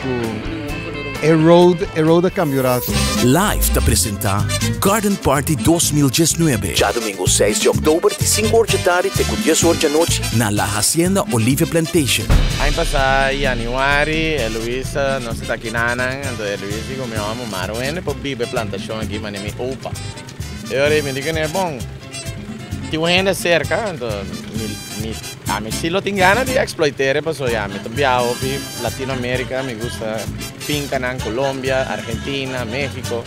Cu e road, e road a cambio rato. Life ta presenta Garden Party dos mil diesnuebe. Djadomingo seis di oktober di sinku or dje tardi te ku dies or djanochi. Na La Hacienda Olivia Plantation. Aña pasá yanüari e Luis a nos taki nanan, anto e Luis di ku mi òmi Marwin e por biba e plantashon aki manera mi opa. E ora ei mi di ku n'e, Bon, tin un hende serka, anto mi, ami si lo tin gana di eksploiter'e pasobra ya mi ta biaha hopi Latino Amerika, mi gusta finkanan Colombia, Argentina, Mexico.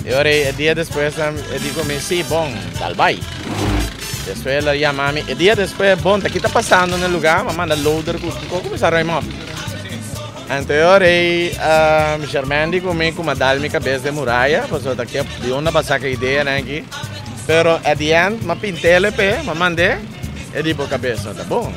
E ora ei e dia despues nan e di ku mi, Si, bon, tal bai. Despues el a yama mi e dia despues, Bon, ta kiko ta pasando n'e luga? Mi a manda loader ku kuminsá roi mòp. Anteor ei a Shermandy ku mi ku mi a dal mi kabes den muraya, pasobra ta kep di unda bo a saka ideanan aki. Pero at di ènt mi a pint'e p'e, mi a mand'e, e di bo kabes no ta bon.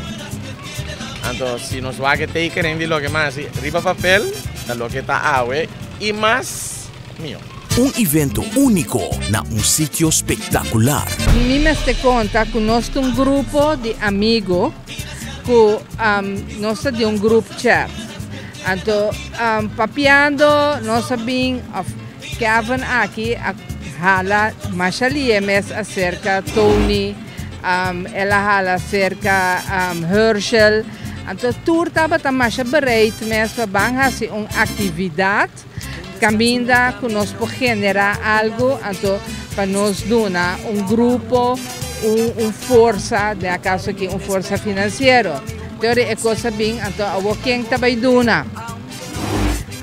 Anto si nos wak e tekening di loke mi a hasi riba papel ta loke ta awe i mas mihó. Un evento úniko na un sitio spektakular. Mi mester konta ku nos ta un grupo di amigu. ku nos ta di un grup chat. Anto papiando nos a bin òf Kevin aki a hala masha lihé mes aserka Tony, el a hala aserka Hershel. Anto tur tabata masha bereid mes pa ban hasi un aktividat Caminda cu nos por genera algo, anto pa nos duna un grupo un, un forsa, den a caso aquí un forsa financiero. Te ora e cosa bin, anto awo ken ta bay duna?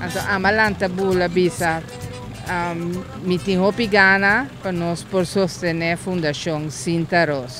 Anto ama lanta bula bisa, um, mi tin hopi gana pa nos por sostene Fundacion Sinta Roos.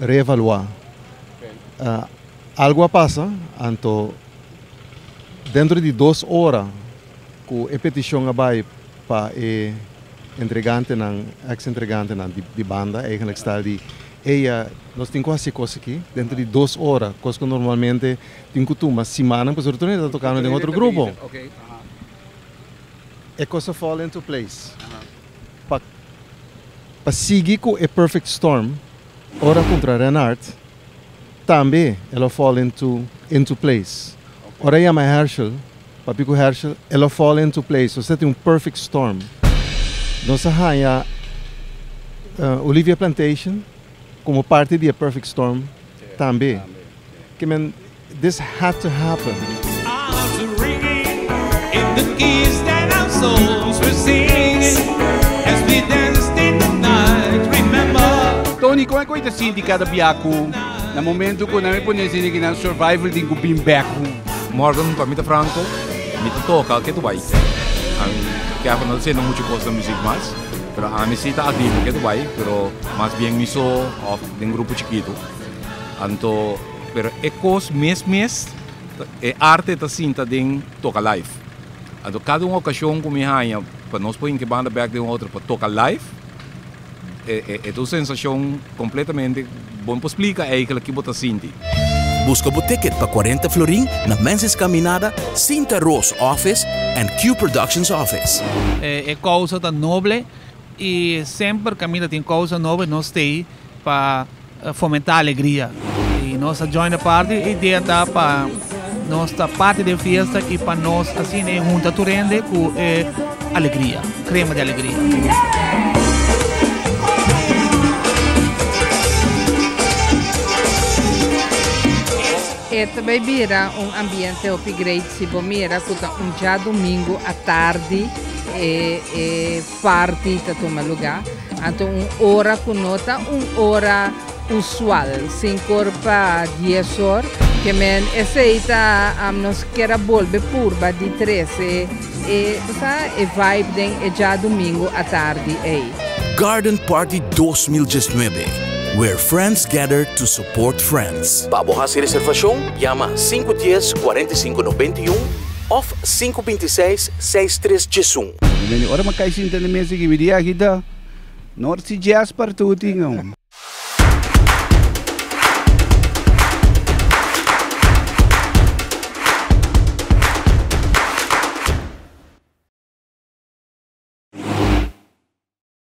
reevaluá. Algu a pasa, anto dentro di dos ora ku e petishon a bai pa e entregantenan, eks entregantenan di banda, eigenlik sta di eia nos tin ku hasi e kos aki dentro di dos ora, kos ku normalmente tin ku tuma simannan pasobra tur hende ta tokando den otro grupo. E kos a fall into place. Pa pa sigui ku e perfect storm ora kontra Renard tambe e lo fall into into place. Ora e yama Herschel papia ku Herschel e lo fall into place so sa tin un perfect storm. Nos a haña Olivia Plantation komo parti di e perfect storm tambe. Ke men. This had to happen. Tony, kon e ku e ta sinti kada bia ku na momentu ku nan a pone e sende kinan survival tin ku bin back home? Morgan, pa mi ta franko, mi ta toka ke tu bai. Kevin no ta sende muchu kos na muzik mas, pero ami si ta agree ku ke tu bai, pero mas bien mi so òf den grupo chikitu. Anto. Pero e kos mes mes, e arte ta sinta den toka live. Anto kada un okashon ku mi haña pa nos por hinki banda bèk di un otro pa toka live, e ta un sensashon kompletamente ku bo no por splika eigelik kibo ta sinti. Buska bo ticket pa cuarenta florin na Menzies Caminada, Sinta Roos Office en Q Productions Office. E causa ta noble y semper Camila tin causa noble nos stay. Pa fomentá alegria i nos ta join e parti e idea ta pa nos ta parti di e fiesta i pa nos asina e hunta tur hende ku e alegria krema di alegria. E ta bai bira un ambiente hopi great si bo mira ku ta un djadumingu atardi e party ta tuma luga, anto un ora ku no ta un ora usual, sinkor pa dies or, ke men esei ta nos kier a bolbe purba di trese e ta sa e vibe den e djadumingu atardi ei. Garden Party dos mil diesnuebe, Where Friends Gather to Support Friends. Pa bo hasi reservashon, yama sinku dies kuarenta i sinku nobenta i un òf sinku binti seis seis tres Djesun. Mami Meni ora m'a kai sinta na mesa kibi di agitá. Nor si Djeas partu bo tin aun.